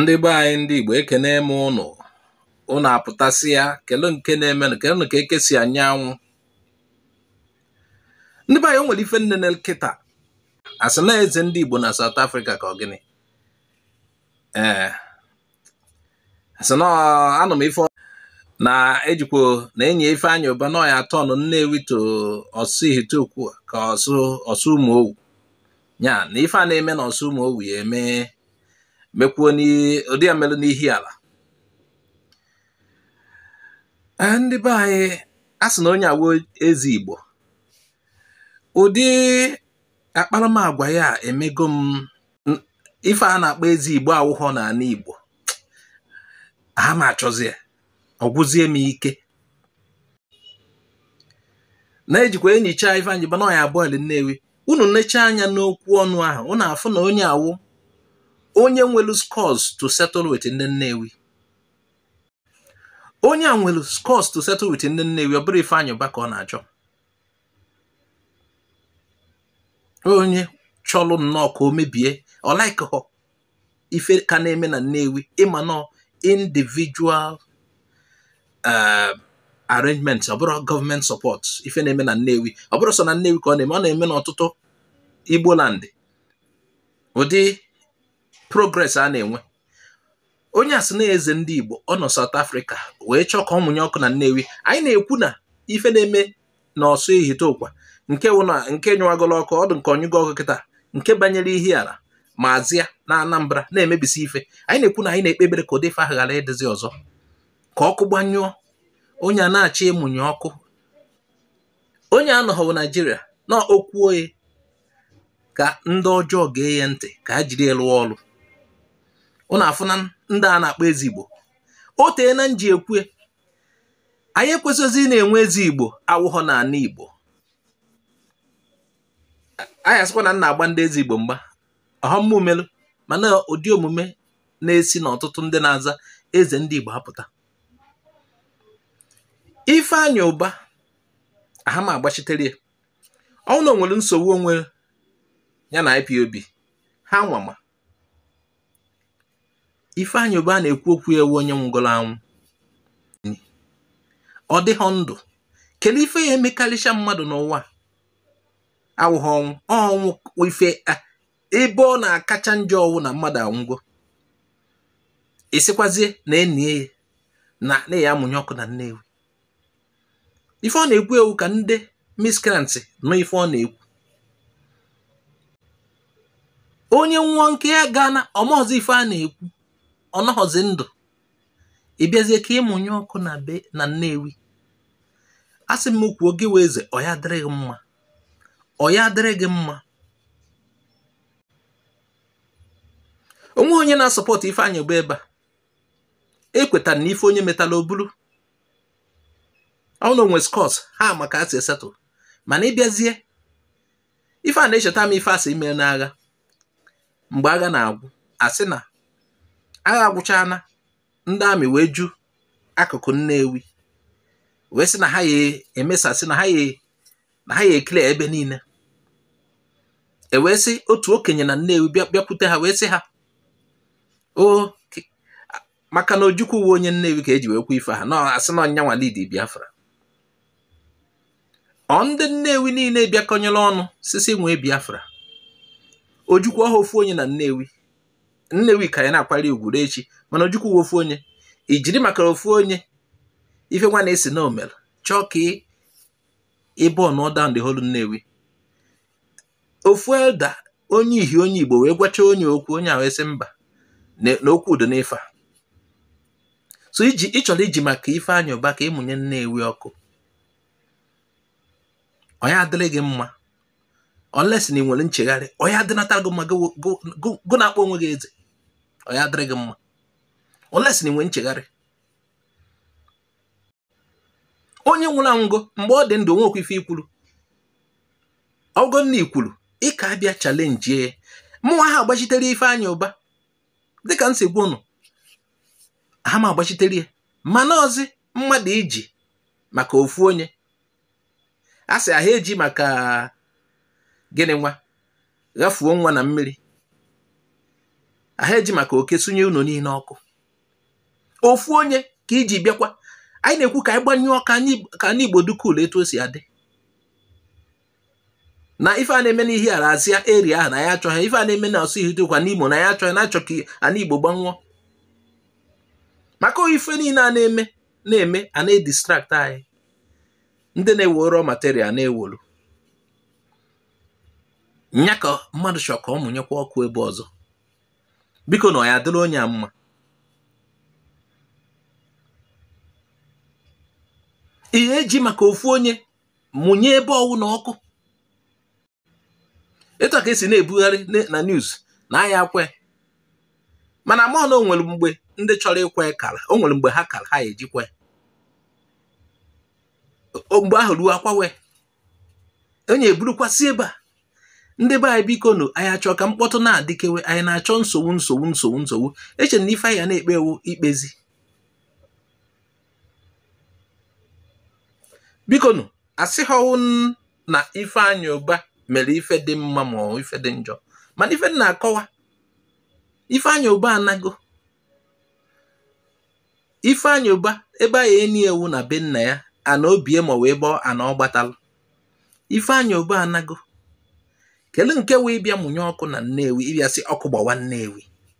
ndị be anyị ndị Igbo ekene m ụnụ ụnụ apụtasịa kele nke na-emenụ kelenụ ka eke si anya anwụ ndị be anyị o nwere ife m nene kịta asị na eze ndị Igbo na South Africa ka ọ gịnị ee asị na anụ m ife na ejikwo na enyi Ifeanyị Ubah na ọ ya-aturn Nnewi to Orsu Ihiteukwa ka Orsumoghu ya na ife a na-eme na Orsumoghu ya eme mekwuo ụdị a melụ n'Ihiala eh, ndị be anyị a sị na onye a wụ eze igbo ụdị akparamagwa ya emego m ife a na-akpọ eze igbo awụghọ n'ana igbo aha m achọzi ya ọ gwụzie m ike na-ejikwa enyicha Ifeanyị Ubah na ọ ya-aboil nnewi unu nechaa anya n'okwu ọnụ ahụ unu afụ na onye a wụ onye nwelu scores to settle with ndị nnewi onye a nwelu scores to settle with ndị nnewi ọ bụrọ Ifeanyị Ubah ka ọ na-achọ onye chọlụ nnọọ ka o mebie ọ likeghọ ife ka na-eme na Nnewi ị ma na ọ individual eh, arrangement ọ bụrọ government support ife na-eme na Nnewi ọ bụrọ sọ na Nnewi ka ọ na-eme ọ na-eme n'ọtụtụ Igbo land ụdị progress a na-enwe onye a sị na eze ndị Igbo ọ nọ South Africa wee chọọ ka ọ mụnye ọkụ na Nnewi anyị na-ekwu na ife na-eme na Orsu Ihiteukwa nke wụ na nke nyụwagolo ọkụ ọ dị m ka ọ nyụgo ọkụ kịta nke banyere Ihiala ma Azịa na Anambra na-emebisi ife anyị na-ekwu na anyị na-ekpe ekpere ka ụdị ife ahụ ghara ịdịzi ọzọ ka ọkụ gbanyụọ onye a na-achọ ịmụnye ọkụ onye anọghọ Naijiria na o kwuo ye ka ndị ọjọọ gee ya ntị ka ha jiri ya lụọ ọrụ ụnụ afụ na ndị a na-akpọ eze igbo o teena m ji ekwue anyị ekwesịghịzi ịna-enwe eze igbo awụghọ na ana igbo anyị asịkwana m na-agba ndị eze igbo mgba ọhọmma umelu mana ụdị omume na-esi n'ọtụtụ ndị na-aza eze ndị igbo apụta Ifeanyị Ubah aha m agbachitere ya ọ wụ na o nwere nsogbu o nwere ya na IPOB ha nwa ma Ifeanyị Ubah a na-ekwu okwu e wụ onye nwụgoro anwụ ọ dịghọ ndụ kele ife ya-emekarịcha mmadụ n'ụwa awụghọ ọnwụ ọ wụ ife ebe ọ na-akacha njọ ọ wụ na mmadụ anwụgo ị sịkwazie na e nyie ya na ị ya-amụnye ọkụ na Nnewi ife ọ na-ekwu ewu ka ndị miscreants nụ ife ọ na-ekwu onye nwa nke ya gaa na ọmọzi ife a na-ekwu ọ nọghọzi ndụ ị bịazie ka ịmụnye ọkụ na be na Nnewi a sị m kwuo gị wee eze ọ ya adịrị gị mma ọ ya adịrị gị mma o nweghị onye na-asupport Ifeanyi Ubah ebe a ekwetara na ife onye metala o bulu ọ na o nwe scores ha ma ka a si esettle mana ịbịazie ife a na-echeta m ife asị ime n'agha mgbe agha na-agwụ asị na agha agwụcha na ndị army wee ju akụkụ Nnewi wee sị na ha ya emesasị na ha ya na ha ya eclear ebe niile e wee sị otu okenye na Nnewi bịakwute ha wee sị ha o maka na Ojukwu wụ onye Nnewi ka eji wee kwu ife ha na asị na ọ nyanwa lead Biafra ọ ndị Nnewi niile bịakọnyere ọnụ sisi nwee Biafra Ojukwu ọha ofu onye na Nnewi Nnewi ka ya na-akwari ugwu ru echi mana Ojukwu wụ ofu onye i jiri maka ofu onye ife nwa na-asị na o mere chọọ ka ị burn down the whole Nnewi ofu elder onye ihi onye igbo wee gwacha onye okwu onye a wee sị mba na okwu dị n'ife a so ị chọrọ iji maka Ifeanyi Ubah ka ịmụnye nnewi ọkụ ọ nya adịrị gị mma unless na ị nwere nchegharị ọ nya adịnata gị mma gụ na-akpọ onwe gị eze ọ nya adịrị gị mma unless na ị nwere nchegharị onye nwụrụ anwụgo mgbe ọ dị ndụ o nwekwa ife i kwuru ọ wụrụ na i kwuru ị ka abịa challenge mụnwa aha agbachitere Ifeanyi Ubah dịka m si gwa ụnụ aha m agbachitere ya mana ọzi mmadụ iji maka ofu onye a sị aha eji maka gịnị nwa ghafuo nwa na mmiri aha eji maka oke sụnye ụnọ niile ọkụ ofu onye ka iji bịakwa anyị na-ekwu ka anyị gbanyụọ ka anị igbo dị cool etu o si adị na ife a na-eme n'Ihiala Azia area ahụ na ya achọghị ife a na-eme na Orsu Ihiteukwa n'Imo na ya achọghị na-achọ ka ana igbo gbanwụọ maka ife niile a na-eme na-eme a na-edistract anyị ndị na-ewere material na-ewolu nya ka mmadụ chọrọ ka ọ mụnyekwa ọkụ ebe ọzọ biko na ọ ya adịrị onye ahụ mma ihe eji maka ofu onye mụnye ebe ọwụna ọkụ etu a ka esi na-ebugharị na news na a ya-akwa mana mụ na o nwere mgbe ndị chọrọ ikwe kara o nwere mgbe ha kara ha ejikwe mgbe ahụ ruo akwawe onye eburukwasị ebe a ndị be anyị biko nụ anyị achọ ka mkpọtụ na-adịkewe anyị na-achọ nsogbu nsogbu nsogbu nsogbu eche na ife anyị na-ekpe wụ ikpezi biko nụ asịghọwụ na Ifeanyi Uba mere ife dị mma ma ọ ife dị njọ mana ife na-akọwa Ifeanyi Uba anago Ifeanyi Uba ebe a ya-enie wụ na be nna ya ana obie ma wee bọọ ana ọ gbatalụ Ifeanyi Uba anago kedu nke wụ ịbịa mụnye ọkụ na Nnewi ịbịa sị ọkụ gbawa Nnewi